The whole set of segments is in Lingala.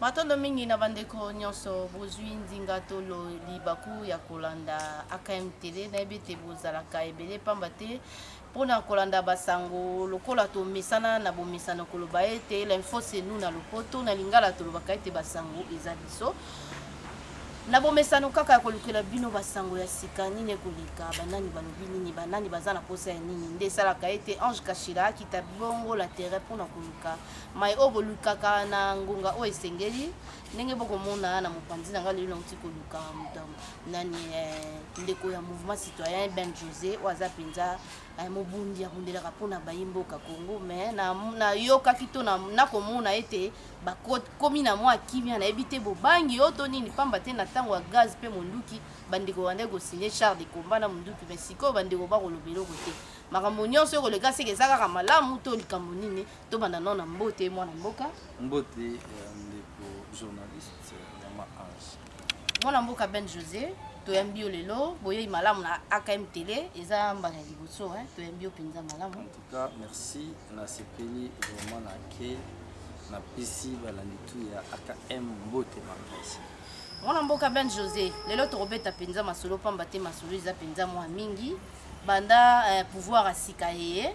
Matondo mingi na bandeko nyonso bozwi ndinga to libaku ya kolanda AKM Tele. Nayebi ete bozalaka ebele pamba te mpo na kolanda basango lokola tomesana na bomesano koloba ete l'info c'est nous na lopoto na lingala tolobaka ete basango eza biso na bomesano kaka ya kolukela bino basango ya sika nini ekoleka banani balobi nini banani baza na mposa ya nini nde esalaka ete ange kashila akita bongo la terre mpo na koluka mai oyo bolukaka na ngonga oyo esengeli ndenge bokomona na mopanzi na ngai lelo nauti koluka moto nani eh, ndeko ya mouvement citoyen ben josé oyo aza mpenza eh, mobundi abundelaka mpo na bayi mboka congo mais nayokaki to nakomona ete bakomi na mwa kimia nayebi te bobangi oyo to nini mpamba te na ntango ya gaz mpe monduki bandeko bandaki kosigne char de combat na monduki mais sikoyo bandeko bakolobela oko te makambo nyonso oyo koleka seke eza kaka malamu to likambo nini tobanda nao na mbote mwana mboka mbote ya ndeko journaliste ya maange mwana mboka ben josé toyambi yo lelo boyei malamu na akm tele eza mbala ya liboso toyambi yo mpenza malamu en tout cas merci nasepeli vraiment na ke napesi balandi tu ya akm mbote makasi mwana mboka ben josé lelo tokobeta mpenza masolo mpamba te masolo eza mpenza mwa mingi banda eh, pouvoir ya sika eye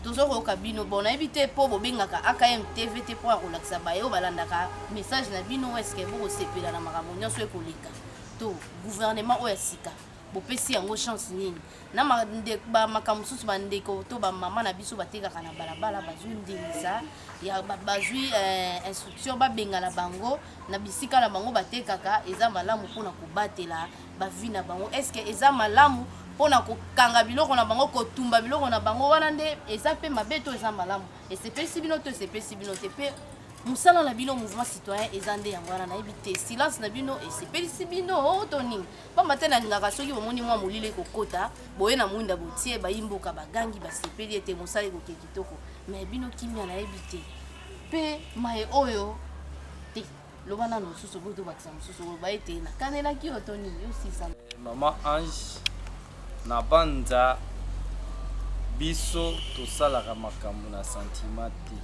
tozo koyoka bino bon nayebi te mpo bobengaka akm tv te mpo ya kolakisa baye oyo balandaka message na bino eske bokosepela na makambo nyonso ekoleka to gouvernement oyo ya sika bopesi yango chance nini na makambo mosusu bandeko to bamama na biso batekaka na balabala bazwi ndingisa bazwi eh, instruction babengana bango na bisika na bango batekaka eza malamu mpona kobatela ba vie na bango est ce que eza malamu pona kokanga biloko na bango kotumba biloko na bango wana nde eza pe mabe to eza malamu esepelisi bino to esepelisi bino te pe mosala na bino mouvement citoyen eza nde yango wana nayebi te silence na bino esepelisi bino oh, to nini mpamba te nalingaka soki bomoni mwa molili ekokota boye na mwinda botie bayimboka bagangi basepeli ete mosala ekoke kitoko mai bino kimia nayebi te mpe mai oyo te loba nano mosusu oboki tobakisa mosusu oloba ete nakanelaki yo to nini yo sisa eh, mama ange na banza biso tosalaka makambo na sentiment te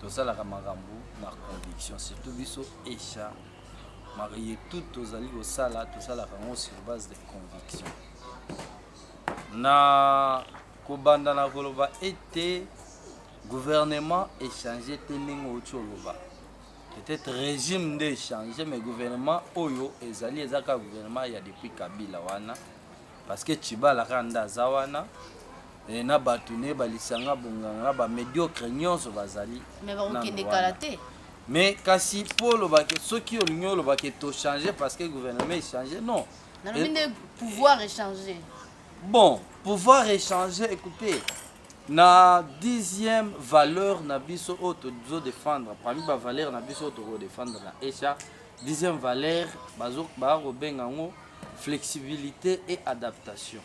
tosalaka makambo na conviction surtout biso esha marie tout tozali kosala tosalaka yango sur base de conviction na kobanda na koloba ete Gouvernement echange te ndenge outi oloba peut-être régime nde echange mais gouvernement oyo ezali eza kaka gouvernement ya depuis kabila wana parce que tshibala kaka nde aza wana e, na bato ne balisanga bonganga na bamediocre nyonso bazali mais bakokende kala te mais kasi mpo olobaki soki olingi olobaki tochange parce que gouvernement echange non nalobi nde pouvoir echange bon pouvoir echange écoutez na dixième valeur na biso oyo tozo défendre parmi ba valeur na biso oyo toko défendre na echa dixième valeur bazo baa kobenga yango flexibilité et adaptation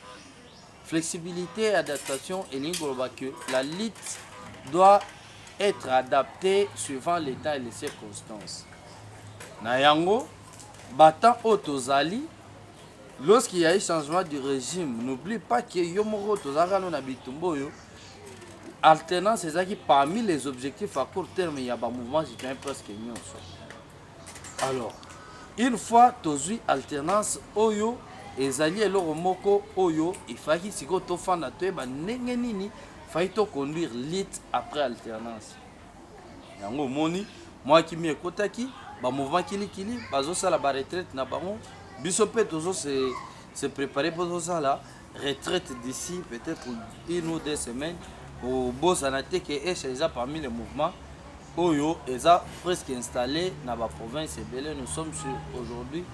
flexibilité et adaptation elingi koloba que la lutte doit être adaptée suivant l'état et les circonstances na yango batemps oyo tozali Lorsqu'il y a eu changement du régime, n'oublie pas que yo moko tozalaka no na bitumba oyo alternance ezalaki parmi les objectifs à court terme ya ba mouvement citoyen presque nyonso. Alors, une fois tozwi alternance oyo ezali eloko moko oyo efaki sikoyo tofanda toyeba ndenge nini fai toconduire lite après alternance. yango omoni mwa kimi ekotaki ba mouvement kilikili bazosala ba retraite na bango biso mpe tozo se, se préparer mpo tozosala retraite d'ici peut-être une ou deux semaines obosana te ke esha eza parmi les mouvements oyo eza presque installé na ba province ebele nous sommes sur aujourd'hui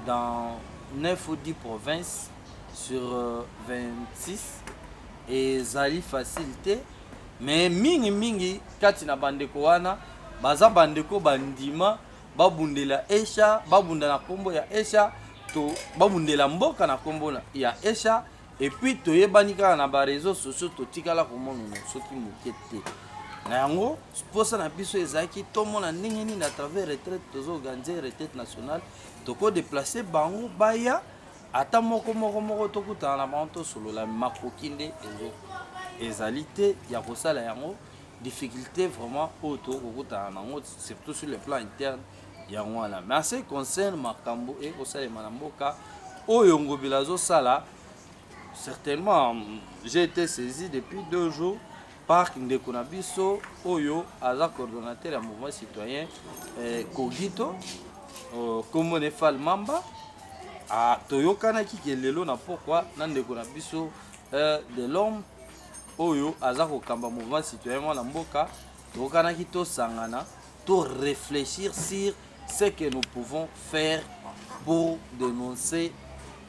dans 9 ou 10 provinces sur 26 euh, ezali facile te me mingi mingi kati na bandeko wana baza bandeko bandima babundela esha babunda na nkombo ya esha to babundela mboka na nkombo ya esha epuis toyebani kaka na bareseau sociaux totikala komonana soki moke te na yango mposa na biso ezalaki tomona ndenge nini à travers retraite tozoorganize retraite nationale tokodeplace bango baya ata moko moko moko tokutana na bango tosolola makoki nde ezo ezali te ya kosala yango difficulté vraiment oyo tokoki kokutana na yango surtout sur le plan interne yango wana mais ase concerne makambo ekosalema na mboka oyo ngobila azosala certainement j'ai été saisi depuis deux jours parc ndeko na biso oyo aza coordonnateur ya mouvement citoyen eh, kogito oh, kombo ne fal mamba ah, toyokanaki ke lelo na pokwa na ndeko na biso eh, de l'homme oyo aza kokamba mouvement citoyen mwana mboka toyokanaki tosangana to reflechir sur ce que nous pouvons faire pour dénoncer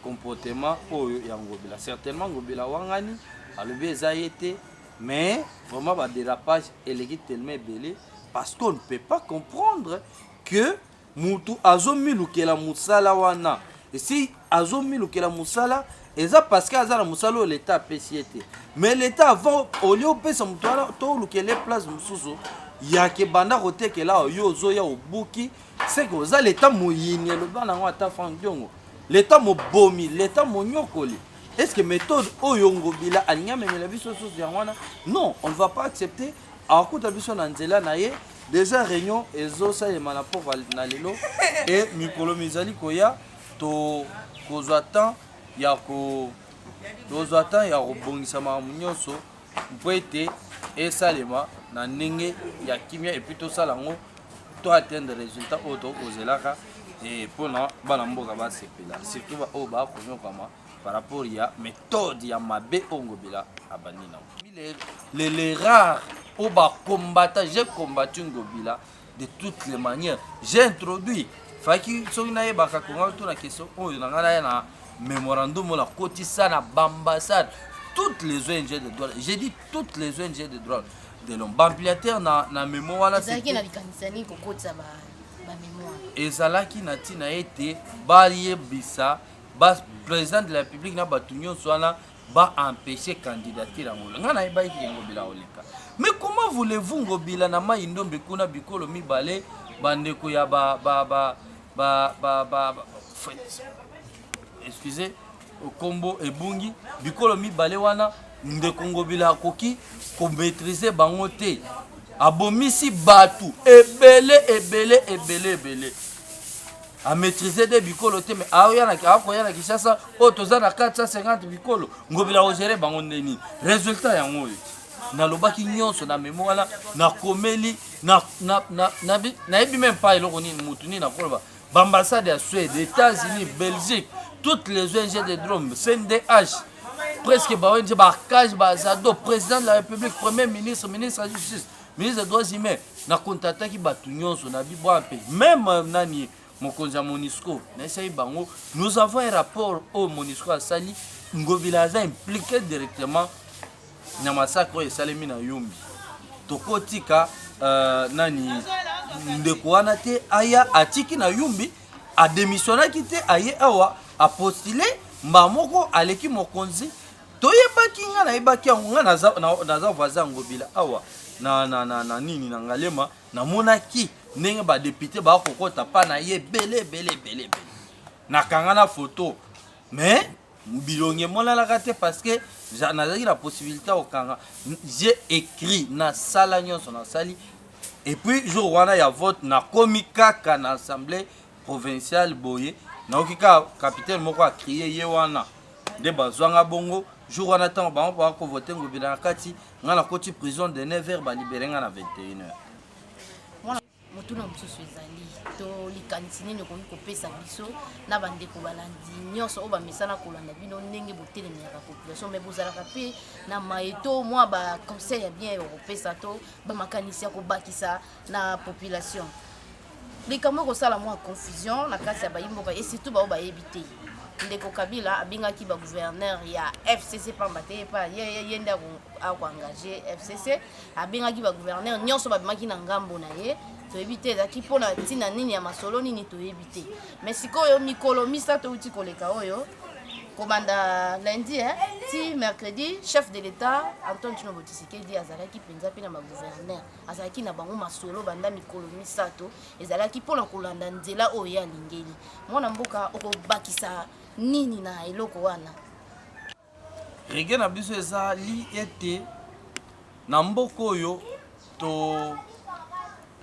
comportement oyo ya ngobila certainement ngobila wangani alobi eza ye te mais vraiment badérapage eleki tellement ebele parce qu'on ne peut pas comprendre que mutu azomilukela mosala wana esi azomilukela mosala eza parceke aza na mosala oyo leta apesi ye te mais leta avant olie opesa moto wana to olukele place mosusu yake banda kotekela awa yo ozoya obuki seke oza leta moyini eloba nango ata frank diongo leta mobomi leta monyokoli est ce que méthode oyo ngobila alingi amemela biso susu yango wana non on ne va pas accepter akokuta biso na nzela na ye deja réunion ezosalema na port na lelo e mikolo mizali koya tokozwa temps ya ko tozwa temps ya kobongisa makambo nyonso mpo ete esalema na ndenge ya kimia epuis tosala yango to atteindre résultat oyo tokozelaka mpo na bana mboka basepela surtout baoyo bakonyokama par rapport ya méthode ya mabe oyo ngobila abandi nango les rares oyo bakombata j'ai combattu ngobila de toutes les manières j'ai introduit faki soki nayebaka konga tuna question oyo na ngai naya na memorandum oyo nakotisa na baambassade toutes les ong de droit j'ai dit toutes les ong de droit de l'homme baampliateur na, na memo wana ezalaki na likanisa nini kokotisa ba, ba memoire ezalaki na ntina ete bayebisa ba président de la république na bato nyonso wana ba empêcher candidature ya Ngobila. Nga nayebaki ke Ngobila oleka. Mais comment voulez-vous Ngobila na Mai Ndombe kuna bikolo mibale bandeko ya ba ba ba ba ba ba, ba excusez kombo ebungi bikolo mibale wana ndeko Ngobila akoki ko maîtriser bango te. Abomisi batu ebele ebele ebele ebele. amaîtrise de bikolo te me akoya na kinshasa oyo oh, toza na 450 bikolo ngobila ogere bango nde nini résultat yango oyo nalobaki nyonso na memo wana nakomeli nayebi meme pa eloko nini motu nini nakoloba baambassade ya suède états-unis belgique toutes les ong de drome cndh presque ba ong bacage bazado président de la république premier ministre ministre ya justice ministre des droits humains na kontataki bato nyonso na bibwa mpe meme euh, nani mokonzi ya monisco nayesaki bango nous avons un rapport oyo monisco asali ngobila aza impliqué directement na masakre oyo esalemi na yumbi tokotika uh, nani ndeko wana te aya atiki na yumbi ademisionaki te aye awa apostile mbaa moko aleki mokonzi toyebaki nga nayebaki yango nga naza, na, naza voisin ya ngobila awa na, na, na, na nini na ngalema namonaki ndenge badepute baya kokota pa na ye ebele ebele ebele ebele nakanga na foto mais bilongi emonanaka te parce que nazalaki na possibilité ya kokanga j'ai écrit nasala nyonso nasali epuis jour wana ya vote nakomi kaka na assemblée provincial boye nayoki kaka capitaine moko akrie ye wana nde bazwanga bongo jour wana ntango bango baa kovote ngobila na kati ngai nakoti prison de 9 heure balibere ngai na 21 heure motuna mosusu ezali to likanisi nini okoki kopesa biso na bandeko balandi nyonso oyo bamesana kolanda bino ndenge botelemaka population mai bozalaka mpe na maye to mwa baconseil ya bien ya kopesa to bamakanisi ya kobakisa na population likambo ekosala mwa confusion na kati ya bayimboka e surtout baoyo bayebi te ndeko kabila abengaki bagouverneur ya fcc pamba te epa ye nde akoengage fcc abengaki bagouverneur nyonso babimaki na ngambo na ye toyebi te ezalaki mpo na ntina nini ya masolo nini toyebi te mai sikoyo mikolo misato euti koleka oyo kobanda lundi eh, ti mercredi chef de l'état antoine chinobo tisekedi azalaki mpenza mpe na bagouverneur azalaki na bango masolo banda mikolo misato ezalaki mpo na kolanda nzela oyo ye alingeli mwana mboka okobakisa nini na eloko wana rege na biso ezali ete na mboka oyo to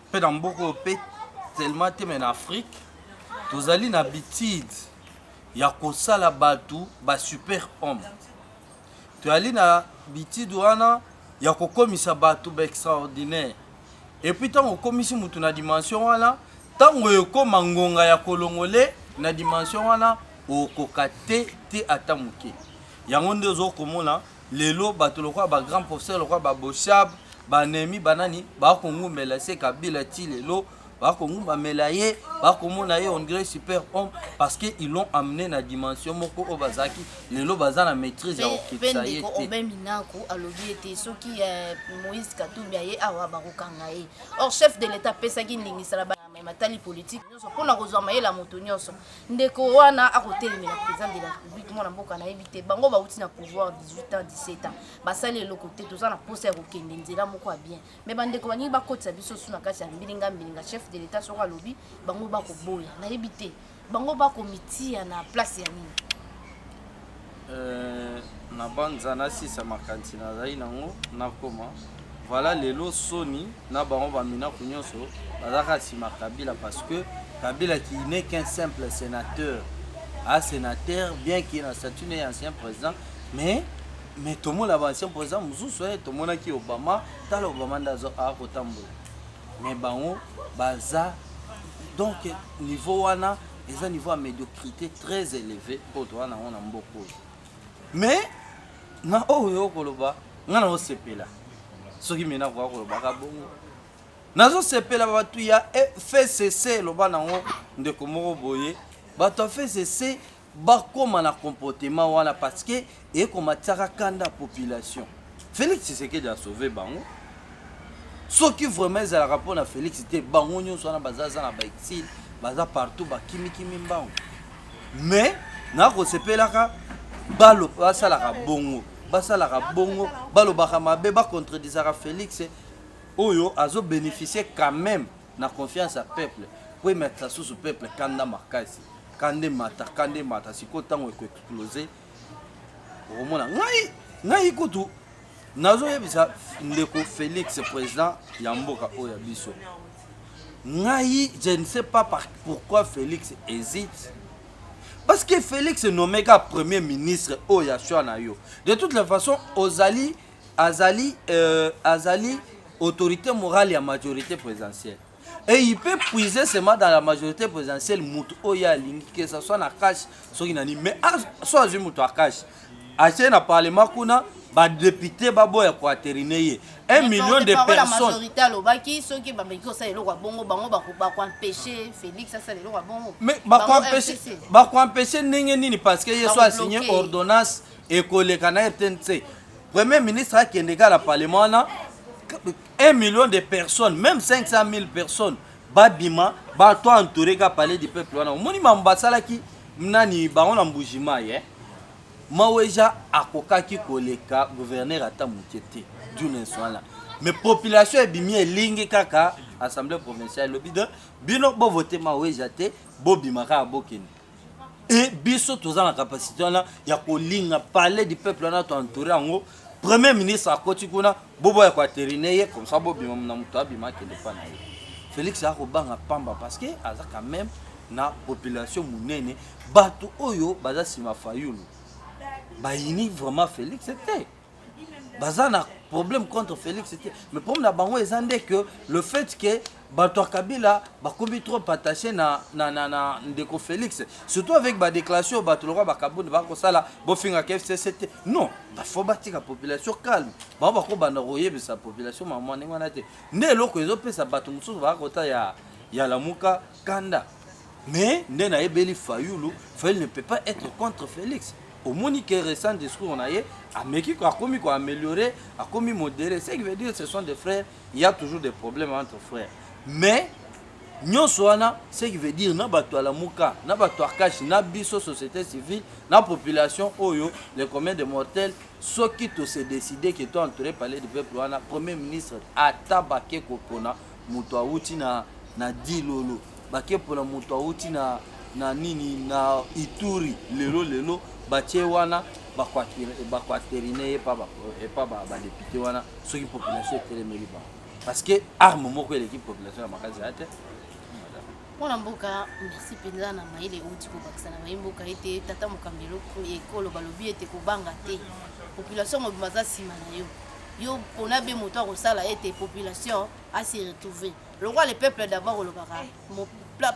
mpe na mboka oyo mpe tellement te me na afrike tozali na bitide ya kosala bato ba super homme toyali na bitide wana ya kokomisa bato ba extraordinaire epuis ntango okomisi motu na dimension wana ntango ekoma ngonga ya kolongole na dimension wana okoka te te ata moke yango nde ozo komona lelo bato lokola ba grand professeur lokola ba boshab banemi banani bakongumela se kabila ti lelo bakongumbamela ye bakomona ye on dirait super homme parce que ils l'ont amené na dimension moko oyo bazalaki lelo baza na maîtrise ya kokitisa ye te obe minaku alobi ete soki eh, moïse katumbi aye awa bakokanga ye or chef de l'état apesaki ndingisa na matali politike nyonso mpo na kozwa mayele ya moto nyonso ndeko wana akotelemela président de la république mwana mboka nayebi te bango bauti na pouvoir 18 ans 17 ans basali eloko te toza na mposa ya kokende nzela moko ya bien me bandeko balingi bakotisa biso su na kati ya mbilinga mbilinga chef de l'etat soko alobi bango bakoboya nayebi te bango bakomitia na place ya nini euh, na banza nasisa makanisi nazali nango nakoma voilà lelo soni na bango baminako nyonso bazalaka nsima kabila parce que kabila qui n'est qu'un simple sénateur a sénateur bien qu'il na statut ne ancien président mais mais tomona ba ancien président mosusu e eh, tomonaki obama tala obama nde akotambola mais bango baza donc niveau wana eza niveau ya médiocrité très élevé oyo toza nango na mboka oyo mais na oyo okoloba ngai naosepela soki mena akoka kolobaka bongo nazosepela bato ya eh, fcc eloba nango ndeko moko boye bato ya fcc bakoma na comportement wana parce que ekomatisaka kanda population félix tshisekedi asauve bango soki vraiment ezalaka mpo na félix te bango nyonso wana baza aza na baexile baza partout bakimikimi mbango mais nakosepelaka balo basalaka bongo basalaka bongo balobaka mabe bacontredisaka félix oyo azobénéficie quand même na confiance ya peuple po ematisa susu peuple kanda makasi kanda emata kanda emata sikoyo ntango ekoexplose okomona ngai ngai kutu nazoyebisa ndeko félix président ya mboka oyo ya biso ngai je ne sais pas par, pourquoi félix hésite parce que félix nomeka premier ministre oyo ya choix na yo de toute la façon ozali azali euh, azali autorité morale ya majorité présidentielle et il peut puiser seulement dans la majorité présidentielle moto oyo alingi que ça soit na cash soki na nini mais so azwi moto ya cash atie na parlement kuna badepute baboya koaterine ye 1 million de personnesmajorité alobaki soki bameki kosala eloko ya bongo bango bakoempeshe félix asala eloko ya bongo mais bakoempeshe ndenge nini parce que ye so asigne ordonnance ekoleka na rtnc premier ministre akende kaka na parlement wana 1 million de personnes même 500 000 personnes babima bato entouré ka palais du peuple wana omoni mambo basalaki nani bango na mbujima ye eh? maweja akokaki koleka gouverneur ata moke te dunes wana mais population ebimi elingi kaka assemblée provinciale elobi de bino bovote maweja te bobima kaka bokende e biso toza na capacité wana ya kolinga palais du peuple wana toentoure yango premier ministre akoti kuna boboya koaterine ye comme ça bobima na moto abima akende mpa na ye félix aya kobanga pamba parce que aza quand même na population monene bato oyo baza nsima fayulu bayini vraiment félix te baza na problème contre Félix te mais problème na bango eza nde que le fait que bato ya kabila bakomi trop attaché na, na, na, na ndeko félix surtout avec badéclaration oyo bato lokola bakabuni bakosala bofingaka fcc te non bafo batika population calme bango bakobanda koyebisa population mamwa ndenge wana te nde eloko ezopesa bato mosusu bakakota ya, ya lamuka kanda Mais nde nayebeli Fayulu, Fayulu ne peut pas être contre Felix. omoni que récent discours na ye ameki akomi ko améliorer akomi modéré ce qui veut dire ce sont des frères il y a toujours des problèmes entre frères mais nyonso wana ce qui veut dire na bato ya lamuka na bato ya kashi na biso société civile na population oyo le commun de mortel soki tose décide ke to entouré palais du peuple wana premier ministre ata bake kopona moto awuti na, na Dilolo, bakepona moto awuti na, na nini na Ituri lelo lelo batie wana bakuaterine ye epa badepute wana soki population etelemeli bango parce que arme moko eleki population ya makasi ya te mpo na mboka merci mpenza na mayele euti kobakisa na baye mboka ete tata mokambi ekolo balobi ete kobanga te population mobima aza nsima na yo yo pona be moto akosala ete population asi retrouve lokola le peuple d'abord olobaka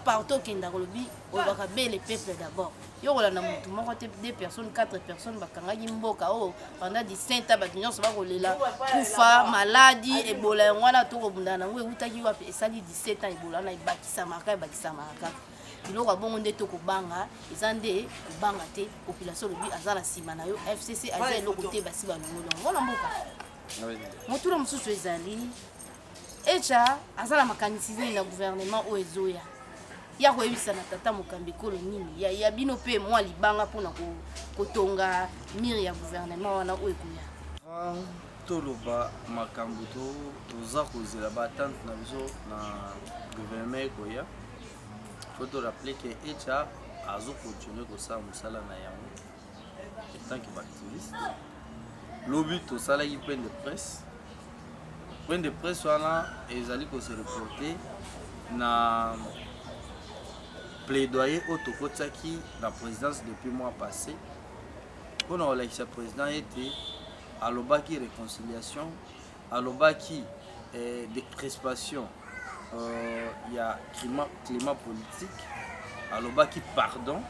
partout okendaka olobi olobaka be le peuple d'abord yo kolanda motu moko te deux personnes quatre personnes bakangaki mboka oyo oh, pendant 17 ans bato nyonso bakolela kufa maladi ebola yango wana tokobundana yango ewutaki wapi esali 17 ans ebola wana ebakisamaka ebakisamaka kaka biloko ya bongo nde to kobanga eza nde kobanga te population olobi aza na nsima na yo fcc aza eloko te basi balongoli yango mona mboka motuna mosusu ezali echa aza na makanisi nini na gouvernement oyo ezoya ya koyebisa na tata mokambi ekolo nini ya, ya bino mpe mwa libanga mpo na kotonga mire ya gouvernement wana oyo ekoya ah, toloba makambo toza kozela batante na biso na gouvernement ekoya faut te rappeler que echa azo continuer kosala mosala na yango etant que baactiviste lobi tosalaki point de presse point de presse wana ezali kose reporte na plaidoyer oyo tokotisaki na présidence depuis mois passé mpo na kolakisa président ete alobaki réconciliation alobaki eh, de crispation euh, ya climat, climat politique alobaki pardon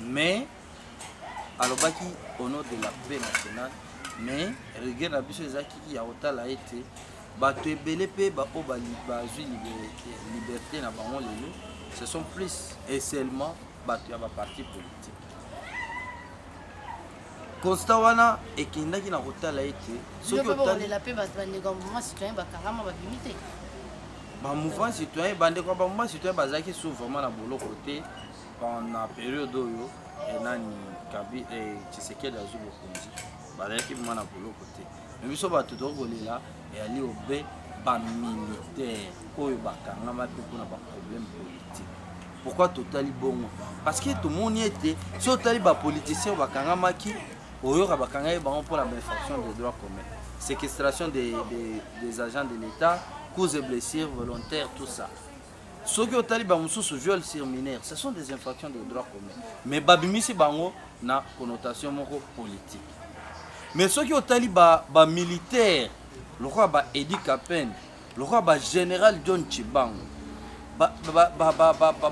mais alobaki au nom de la paix nationale mais regret na biso ezalaki ya kotala ete bato ebele mpe baoyo bazwi liberté na bango lelo ce sont plus et seulement bato ya baparti politique constat wana ekendaki na kotala ete soki otalela mpe bato bandeko ya mouvement citoyen bakangama babimi te bamouvement citoyen bandeko ya bamouvement citoyen bazalaki su vraiment na boloko te na periode oyo eh, nani kabi eh, tshisekedi azwi bokonzi bazalaki vraimen na boloko te me biso bato toki kolela eyali obe bamilitaire oyo bakangama mpe mpona baproblème politique pourquoi totali bongo parce que tomoni ete soki otali bapoliticien oyo bakangamaki oyoka bakangaki bango mpo na bainfraction de droit commun séquestration des, des, des agents de l'état cause et blessures volontaires tout ça soki otali bamosusu viol sur mineur ce sont des infractions de droit commun mais babimisi bango na connotation moko politique mais soki otali bamilitaire ba lokola baedi capene lokola ba general john chibangu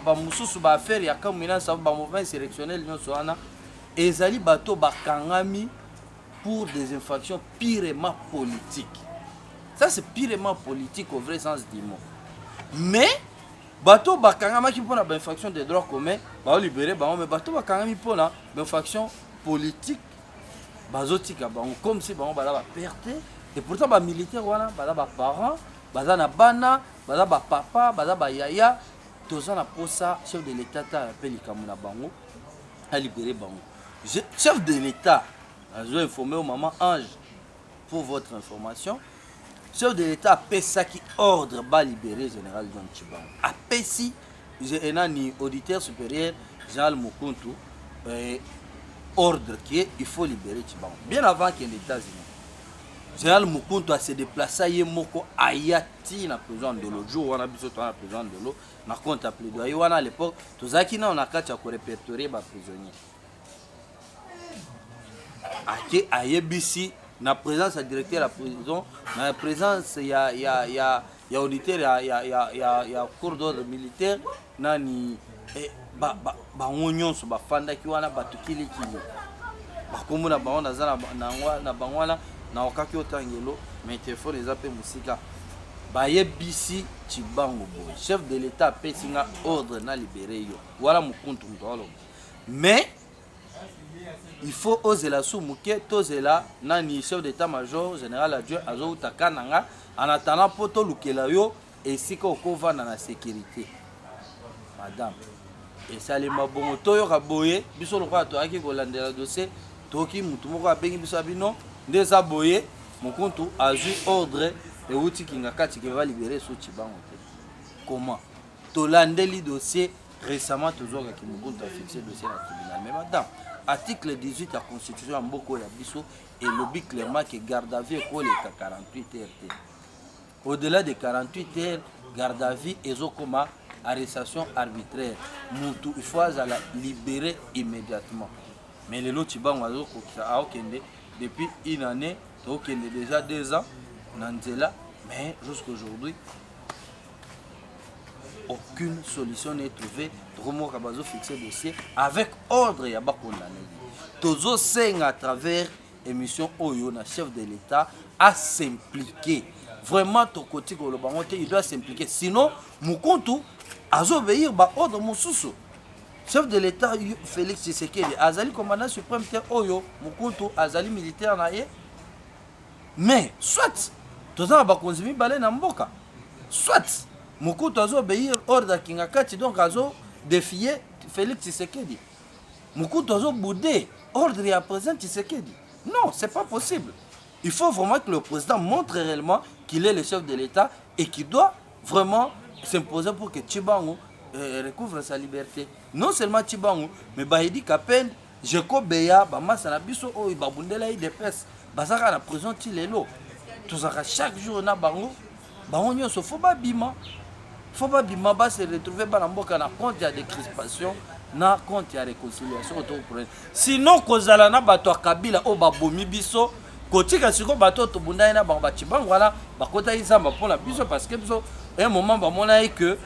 bamosusu ba affaire ya kamwina sabu ba mouvement insurrectionnel nyonso wana ezali bato bakangami pour des infractions purement politiques ça c'est purement politique au vrai sens du mot mais bato bakangamaki mpona bainfraction de droit commun baolibere bango me bato bakangami mpona bainfraction politique bazotika bango comme si bango baza baperte et pourtant bamilitaire wana baza baparent baza na bana baza bapapa baza bayaya toza na posa chef de l'état ta mpe likambo na bango alibere bango chef de l'état azo informe yo mama ange pour votre information Chef de l'État apesaki ordre ba libérer général John Tshibanga. Apesi enani auditeur supérieur général Mukuntu euh, ordre qui est il faut libérer Tshibanga. Bien avant qu'il États-Unis. Général Mukuntu a se déplacer ye moko aya ti na prison de l'eau. Jour wana biso to na prison de l'eau na compte à plaidoyer wana à l'époque tozaki na on a kati ya ko répertorier ba prisonniers. ake ayebisi na présence ya directeur ya prison na présence ya, ya, ya, ya auditeur ya, ya, ya, ya, ya cour d'ordre militaire nani eh, bango ba, ba nyonso bafandaki wana bato kilikili bakombo na bango naza na bango wana naokaki otangelo mai telefone eza mpe mosika bayebisi cibango boye chef de l'état apesi nga ordre na libere yo wana mokuntu moto aloba mais il faut ozela su moke tozela nani chef d'état major général adjoint azowuta kananga en attendant mpo tolukela yo esika okovanda na sécurité madame esalema bongo toyoka boye biso lokola toyaki kolandela dossier toyoki motu moko abengi biso ya bino nde eza boye mokuntu azwi ordre ewuti kingakati ke balibere suci bango te comment tolandeli dossier Récemment tozwaka ki Mobutu a fixe dossier na tribunal mais madame article 18 ya constitution ya mboka ya biso elobi clairement que garde à vue ekoleka 48 heures te au-delà de 48 heures garde à vue ezokoma arrestation arbitraire mutu il faut azala libéré immédiatement mais lelo cibango azokokisa aokende ah, depuis une année tokokende déjà deux ans na nzela mais jusqu'aujourd'hui aucune solution n'est trouvée tokomoka bazofixe dossier avec ordre ya bakondane tozosenga à travers émission oyo na chef de l'état à s'impliquer vraiment tokoti koloba yango te il doit s'impliquer sinon mokuntu azobeir baordre mosusu chef de l'état félix tshisekedi azali commandant suprême te oyo mokuntu azali militaire na ye mais soit toza na bakonzi mibale na mboka soit mokutu azo obéir ordre ya kingakati donc azo défier félix tshisekedi mokutu azo boude ordre ya président tshisekedi non c'est pas possible il faut vraiment que le président montre réellement qu'il est le chef de l'état et qu'il doit vraiment s'imposer pour que Chibangu euh, recouvre sa liberté. Non seulement Chibangu, mais Bahidi Kapend, Geco Beya ba masta na biso oyo ba bundela udps baza kaka na prison ti lelo tozalaka chaque jour na bango bango nyonso fo babima fo babima ba se retrouver bana mboka na compte ya decrispation na compte ya réconciliation oyo tokopre sinon kozala na bato ya kabila oyo babomi biso kotika sikoyo bato oyo tobundaki na bango bacibango wana bakotaki zamba mpo na biso parce que biso un moment bamonaki que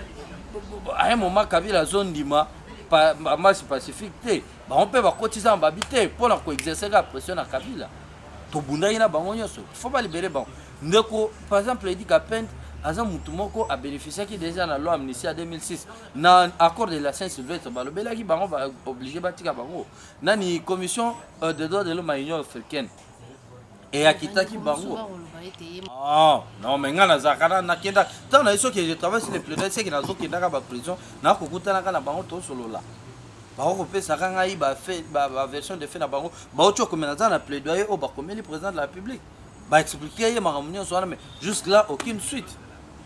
un moment kabila azondima pa, ba marche pacifique te bango mpe bakotisa na babi te mpo na koexerce ka pression na kabila tobundaki na bango nyonso fo balibere bango ndeko par exemple edi kapente aza motu moko abénéficiaki déjà na loi amnistie ya 2006 na accord de la saint sylvestre balobelaki bango baoblige batika bango nani commission euh, de droit de l'homme ya union africaine Et akitaki bango. Ah, non, mais nga nazalaka na nakenda ntango na ye soki je travaille sur le plaidoyer seke nazokendaka baprison nakokutanaka na bango tosolola bakokopesaka ngai baversion de fait na bango bauti okomela nzala na plaidoyer oyo bakomeli président de la république baexplike ye makambo nyonso wana mais jusque là aucune suite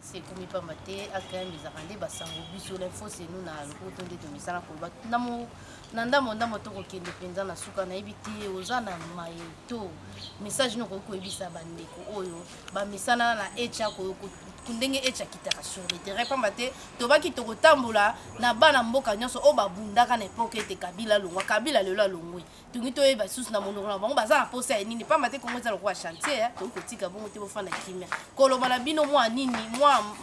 sekomi pamba te akm ezalaka nde basango biso l'info senu na lokoto nde tomisala koloba na ndambo ndambo tokokende mpenza na suka nayebi te oza na maye to message nini okoki koyebisa bandeko oyo bamesana na echa ndenge echa akitaka sur le terrain pamba te tobaki tokotambola na bana mboka nyonso oyo babundaka na epoke ete kabila alongwa kabila lelo alongwe tungi toyeba lisusu na monoko na bango baza na posa ya nini pamba te kongo eza lokola chantier eh. toki kotika bongo te bofanda kimia koloba na bino mwa nini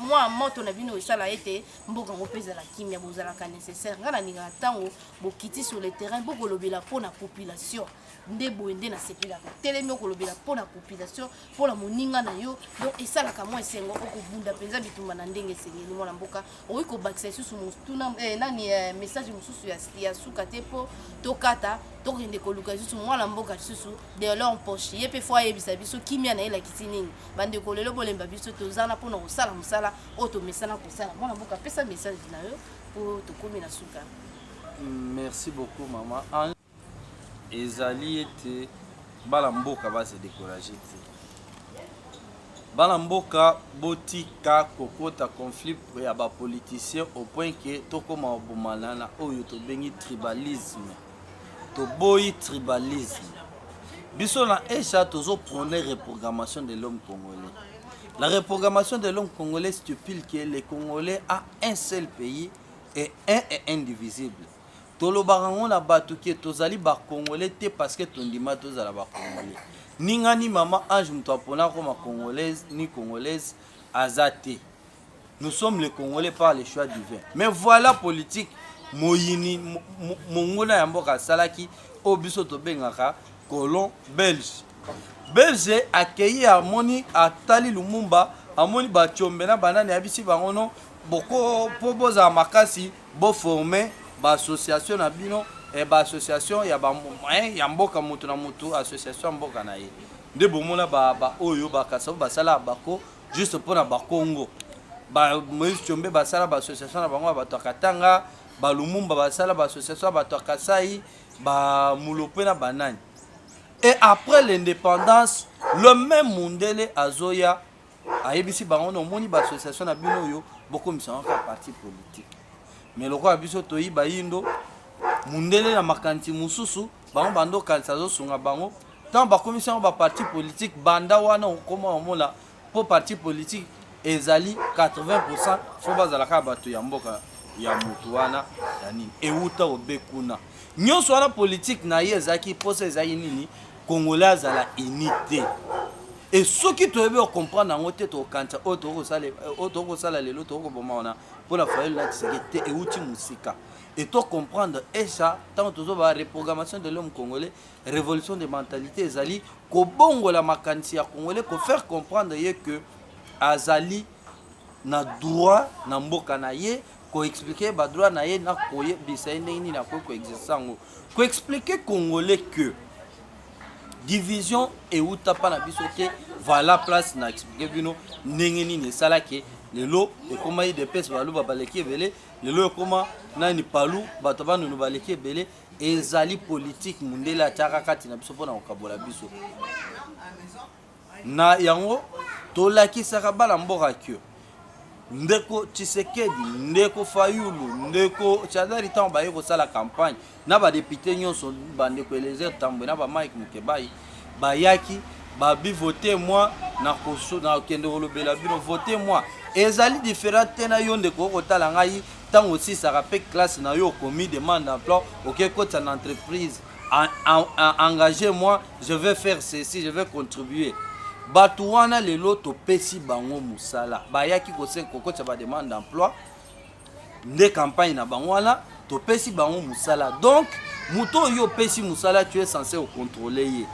mwa moto na bino esala ete mboka yango mpe ezala kimia bozalaka nécessaire ngai nalingaka ntango bokiti sur le terrain bokolobela mpo na population nde boye nde nasepelaka telemi okolobela mpo na population mpo na moninga na yo donc esalaka mwa esengo okobunda mpenza bitumba na ndenge esengeli mwana mboka okoki kobakisa lisusu motuna eh, nani eh, message mosusu ya, ya suka te mpo tokata tokende koluka lisusu mwana mboka lisusu delor mpoche ye mpe fo ayebisa biso kimia na ye elakisi nini bandeko lelo bolemba biso toza na mpona kosala mosala oyo tomesana kosala mwana mboka apesa message na yo mpo tokomi na suka merci beaucoup mama ezali ete bana mboka ba se decourager te bana mboka botika kokota conflit ya ba politiciens au point que tokoma obomana na oyo tobengi tribalisme toboyi tribalisme biso na esha tozo prône reprogrammation de l'homme congolais la reprogrammation de l'homme congolais stipule que le congolais a un seul pays et un et indivisible Tolobaka ngo na batu que tozali ba congolais te parce que tondima tozala ba congolais. Ninga ni maman Ange mutu apona akoma congolaise ni congolaise aza te. Nous sommes les congolais par le choix divin. Mais voilà politique moyini monguna ya mboka asalaki oyo biso tobengaka colon belge belge akei amoni atali lumumba amoni bacombe na banani ayebisi bango no boko mpo bozala makasi Bo former ba association na bino eh, ba association ya ba eh, ya mboka mutu na mutu association ya mboka na ye nde bomona ba ba oyo ba kasabu basala bako juste pona ba Congo ba Moïse Chombe basala ba association na bango ya bato ya Katanga ba Lumumba basala ba association ya bato ya Kasai ba Mulope na banani et après l'indépendance le même Mundele azoya ayebisi bango na omoni baassociation na bino oyo bokomisanga kaka parti politique mais lokola biso toyi bayindo mundele na makanisi mosusu bango bando okanisa azosunga bango ntango bakomisi yango baparti politique banda wana okoma omona mpo parti politique ezali 80 fo bazala kaka bato ya mboka ya motu wana ya nini ewuta obe kuna nyonso wana politike na ye ezalaki mposa ezalaki nini kongolais azala unité e soki toyebi okomprendre yango te tokokanisa oyo tokoki kosala lelo tokoki koboma wana mpo na fayulu na kiseke te euti mosika e to comprendre esa ntango tozoba reprogrammation de l'homme congolais révolution de mentalité ezali kobongola makanisi ya congolais kofaire comprendre ye que azali na droit na mboka na ye koexplike badroit na ye na koyebisa ye ndenge nini akoki koexerce yango koexplike congolais que division ewuta mpa na biso te voilà place na explike bino ndenge nini esalaki lelo ekoma idps baluba baleki ebele lelo ekoma nani palu bato banunu baleki ebele ezali politike mondele atiaka kati na biso mpo na kokabola biso Na yango tolakisaka bana mboka que ndeko Tshisekedi, ndeko Fayulu, ndeko Chadari ntango baye kosala campagne na badepute nyonso bandeko Eliezer Tambwe na ba Mike Mukebayi bayaki babi vote moi na kokende kolobela bino vote moi ezali different te na yo ndeko okotala ngai ntango osisaka mpe classe na yo okomi demande d'emploi okekotisa na entreprise engage moi je vais faire ceci je vais contribuer bato wana lelo topesi bango mosala bayaki kokotisa bademande d'emploi nde campagne na bango wana topesi bango mosala donc moto oyo opesi mosala tu es censé ocontrole ye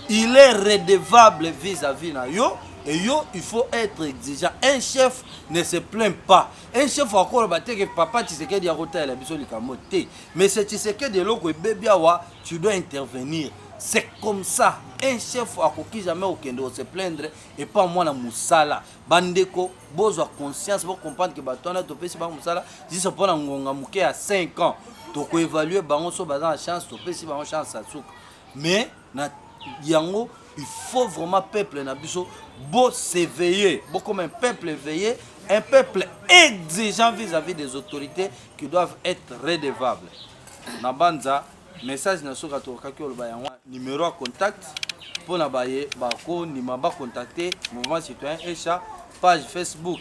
il est redevable vis-à-vis na yo et yo il faut être exigeant un chef ne se plaint pas un chef akoloba te ke papa tshisekedi akotalela biso likambo te Monsieur Tshisekedi eloko ebebi awa tu dois intervenir c'est comme ça un chef akoki jamais okende ose plaindre epa mwana mosala bandeko bozwa conscience bocomprendre ke bato wana topesi bango mosala juste mpo na ngonga moke ya 5 ans tokoevalue bango so baza na chance topesi bango chance ya suka mais na yango il faut vraiment peuple na biso bo s'éveiller comme un peuple éveillé un peuple exigeant vis-à-vis des autorités qui doivent être redevables na banza message na soka tokaki oloba yango numéro ya contact mpo na baye bakondima bacontacte mouvement citoyen echa page facebook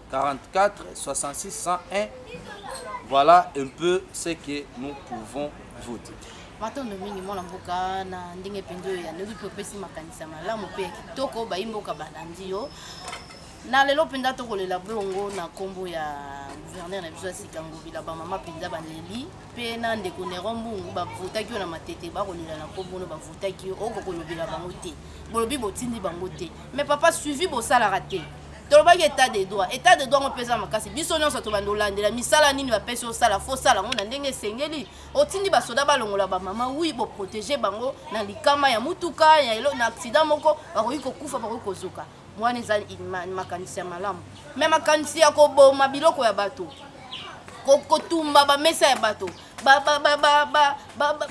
44 66 101 voilà un peu ce que nous pouvons vous dire matondo mingi mwana mboka na ndenge mpenza oyo yanoki mpe opesi makanisa malamu mpe ya kitoko bayi mboka balandi yo na lelo mpenza tokolela bongo na nkombo ya guverner na biso ya sika ngobila bamama mpenza baleli mpe na ndeko nero mbungu bavotaki yo na matete bakolela na nkombo no bavotaki yo okokolobela bango te bolobi botindi bango te mais papa suivi bosalaka te tolobaki etat de droit etat de droit yango mpeza makasi biso nyonso tobandi olandela misala nini bapesi osala fo osala yango na ndenge esengeli otindi basoda balongola bamama wi boprotege bango na likama ya motuka ya elo na aksida moko bakoki kokufa bakoki kozoka wana eza makanisi ya malamu me makanisi ya koboma biloko ya bato kotumba bamesa ya bato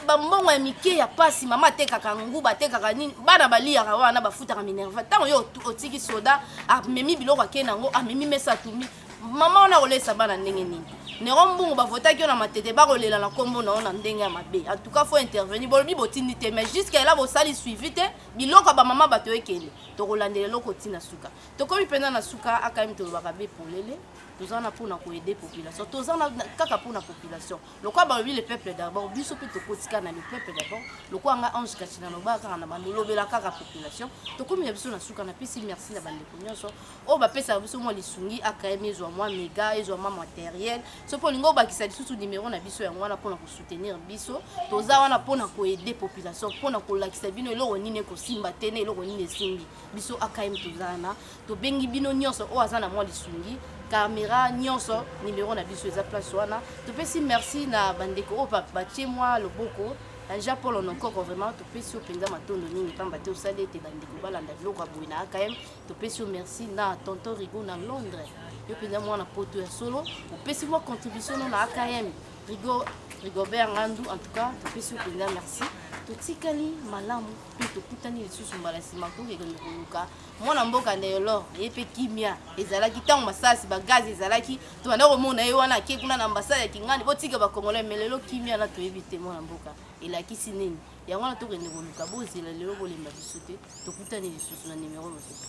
bambongo ya mike ya pasi mama atekaka nguba atekaka nini bana baliyaka wana bafutaka minerva ntango yo otiki soda amemi biloko akei na yango amemi mesa atumi mama wana akolesa bana ndenge nini nero mbungu bavotaki yo na matete bakolela na nkombo na yo na ndenge ya mabe en tout cas faut intervenir bolobi botindi te mais jusqu'à là bosali suivi te biloko ya bamama bato ekende tokolandela eloko ntina suka tokomi mpenza na suka akayemi tolobaka be polele toza na pona ko aider population toza na kaka pona population lokola balobi le peuple d'abord biso mpe tokotika na le peuple d'abord lokola nga ange kati na loba kaka na bando lobela kaka population tokomi na biso na suka na pesi merci na bandeko nyonso oyo bapesaka biso mwa lisungi akm ezwa mwa mega ezwa mwa materiel soki olingi obakisa lisusu numero na biso yango wana mpona kosoutenir biso toza wana mpona koaider population mpona kolakisa bino eloko nini ekosimba te na eloko nini esimbi biso akm toza wana tobengi bino nyonso oyo aza na mwa lisungi camera nyonso nimero na biso eza place wana topesi merci na bandeko oyo batie mwa loboko anja polo na nkoko vraiment topesi yo mpenza matondo mingi mpamba te osali ete bandeko balanda biloko ya boye na akm topesi yo merci na tonton rigo na londres yo mpenza mwana poto ya solo opesi mwa contribution no na akm rigo rigobert ngandu en tout cas topesi yo mpenza merci totikali malamu mpe tokutani lisusu mbala nsima tokekende koluka mwana mboka neyolor ye mpe kimia ezalaki ntango masasi bagaze ezalaki tobanda komona ye wana ake kuna na ambasade ya kingani botika bakongolai me lelo kimia na toyebi te mwana mboka elakisi nini yango wana tokende koluka bozela lelo bolemba biso te tokutani lisusu na nimero mosusu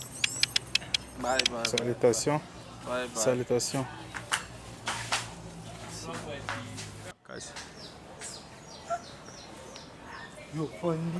salutation salutation yo fondi